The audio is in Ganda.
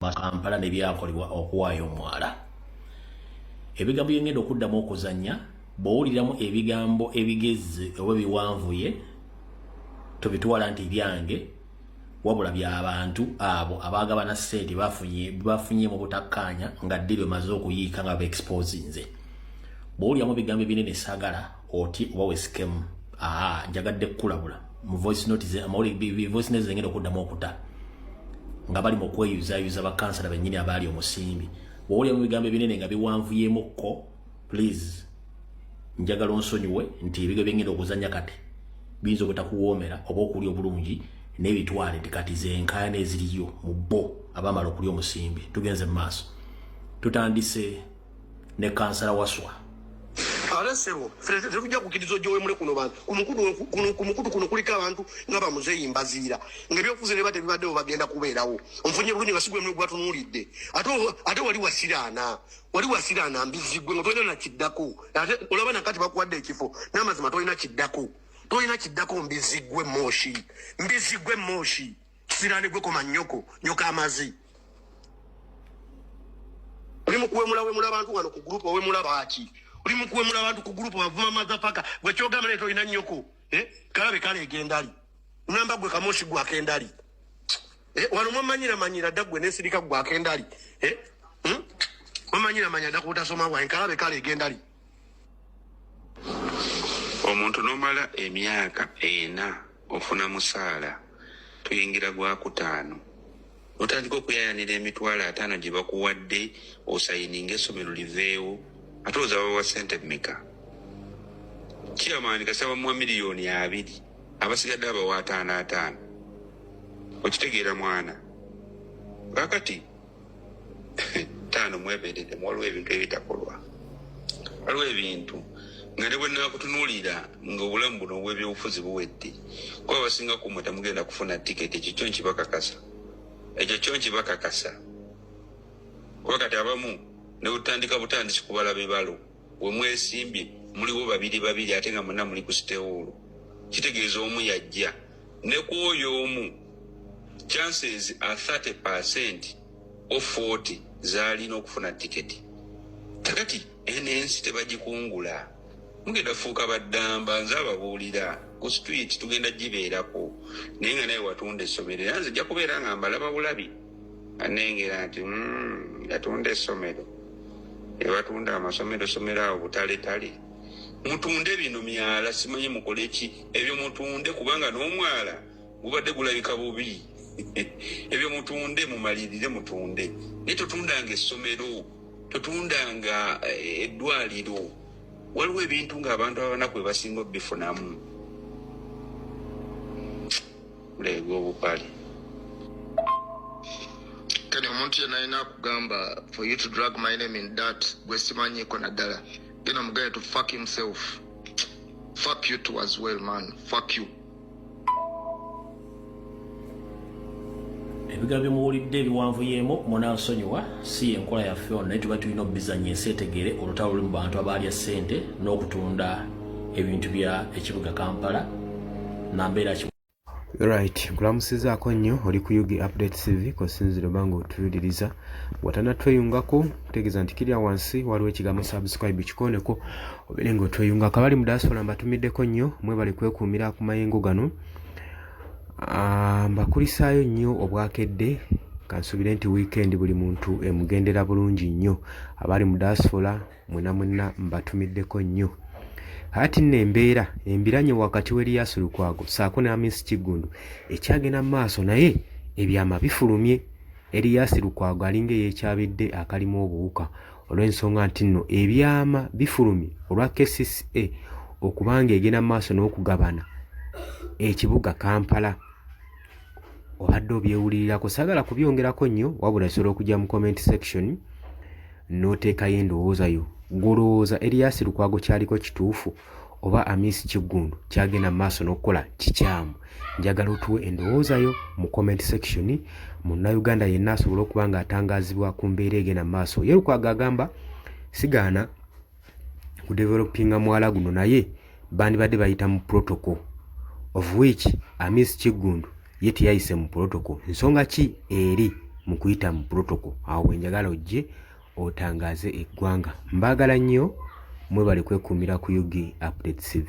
Kampala ne byakolebwa okuwaayo omwala ebigambo byengenda okuddamu okuzannya bwowuliramu ebigambo ebigezi oba biwanvuye tobitwala nti byange wabula byabantu abo abagabana sente bafunye mu butakkaanya nga ddi bemaze okuyiika nga baexposinze bwowuliramu ebigambo ebinene sagala oti oba wesikemu aha njagadde kukulabula mu voice note ze amawulire voice note zengenda okuddamu okuta nga bali mu kweyuzayuza bakansala bennyini abaali omusimbi wowulira mu bigambo ebinene nga biwanvuyemukko please njagala onsonyiwe nti ebigo byengenda okuzanya kati biyinza obutakuwoomera oba okulya obulungi n'ebitwale nti kati zenkayana eziriyo mu bo abamala okulya omusimbi tugenze mu maaso tutandise ne kansala waswa ate sebo ffe tetujja kukkiriza ojowemule kuno bantu ku mukutu kuno kuliko abantu nga bamuzeeyi mbaziira ngaebyokufuza neba tebibaddewo bagenda kubeerawo omufunye bulungi nga sigwe mwe gwatunuulidde ate wali wasiraana wali wasiraana mbizigwe nga tolina nakiddako ate olaba nakati bakuwadde ekifo n'amazima tolina kiddako tolina kiddako mbizigwe mooshi mbizigwe mooshi kisirani gwe koma nyoko nyoka amazi oli mukuwemula wemula abantu wano ku group owemula baki oli mukuwemula abantu ku group wavuma mazafaka gwe kyogamba leto ina nyoko eh kalabe kale egendali namba gwe kamoshi gwa kendali eh wano mwamanyira manyira dagwe nesirika gwa kendali eh hmm? mwamanyira manyira dakuta soma wa kalabe kale egendali omuntu nomala emyaka ena ofuna musaala tuyingira gwakutaano otandika okuyayanira emitwalo ataano gye bakuwadde osayininga essomero liveewo ate oza bawa sente meka kiyamaani kasaba muwa miliyoni abiri abasigadde abawa ataano ataano okitegeera mwana kakati taano mweberedde waliwo ebintu ebitakolwa waliwo ebintu nga ne bwenakutunuulira nga obulamu buno obwebyobufuzi buwedde kuba abasinga kumwe temugenda kufuna tiketi ekyo kyo nkibakakasa ekyo kyo nkibakakasa kuba kati abamu nebutandika butandisi kubala bibalo wemwesimbye muliwo babiri babiri ate nga muna muli ku sitewuulu kitegeeza omu yajja ne ku oyo omu chances a 30 percent o 40 zaalina okufuna tiketi kakati eno ensi tebagikungula mugenda fuuka baddamba nze ababuulira ku street tugenda gibeerako naye nga naye watunda essomero era nze jja kubeera nga mbalaba bulabi anengera nti mm, yatunda essomero ebatunda amasomero somero awo butaletale mutunde bino myala simanyi mukoleki ebyo mutunde kubanga n'omwala gubadde gulabika bubi ebyo mutunde mumalirire mutunde naye totundanga essomero totundanga eh, eddwaliro waliwo ebintu ng'abantu abanaku ebasinga obifunamu ebwobupale kati omuntu yena alina akugamba for you to drag my name in dat gwesimanyiko naddala gena mugende to fuck himself fuck you to as well man fuck you ebigambo byemuwulidde ebiwanvu yemu munansonyiwa si yenkola yaffe ono naye tuba tulina obizanya ensi etegere olutalo luli mu bantu abaalya ssente n'okutunda ebintu bya ekibuga kampala nambeera right nkulamusizaako nnyo oli ku ug update cv kosinzira oba nga otuwuliriza watanatweyungako kutegeeza nti kirya wansi waliwo ekigambo subscribe kikoneko obeere nga otweyungako abali mu diaspora mbatumiddeko nnyo mwebali kwekuumira ku mayengo gano ah, mbakulisaayo nnyo obwakedde kansubire nti wiikendi buli muntu emugendera bulungi nnyo abali mu diaspora mwena mwena mbatumiddeko nnyo ati nno embeera embiranye wakati w'eriyaasi lukwago saako ne amisi kiggundu ekyagenda mu maaso naye ebyama bifulumye eriyaasi lukwago alinga eyekyabidde akalimu obuwuka olw'ensonga nti nno ebyama bifulumye olwa kcca okubanga egenda mu maaso n'okugabana ekibuga kampala obadde obyewulirirako sagala kubyongerako nnyo wabula sobola okujja mu comment section n'oteekayo endowooza yo gwolowooza eriyasi lukwago kyaliko kituufu oba amisi kiggundu kyagenda mu maaso n'okukola kikyamu njagala otuwe endowooza yo mu comment section munnayuganda yenna asobole okuba ng'atangaazibwa ku mbeera egenda mu maaso ye lukwago agamba sigaana ku developinga mwala guno naye bandibadde bayita mu protocol of which amis kiggundu ye teyayise mu protocol nsonga ki eri mu kuyita mu protocol awo bwenjagala ojje otangaze eggwanga mbaagala nnyo mwebale kwekuumira ku ug update cv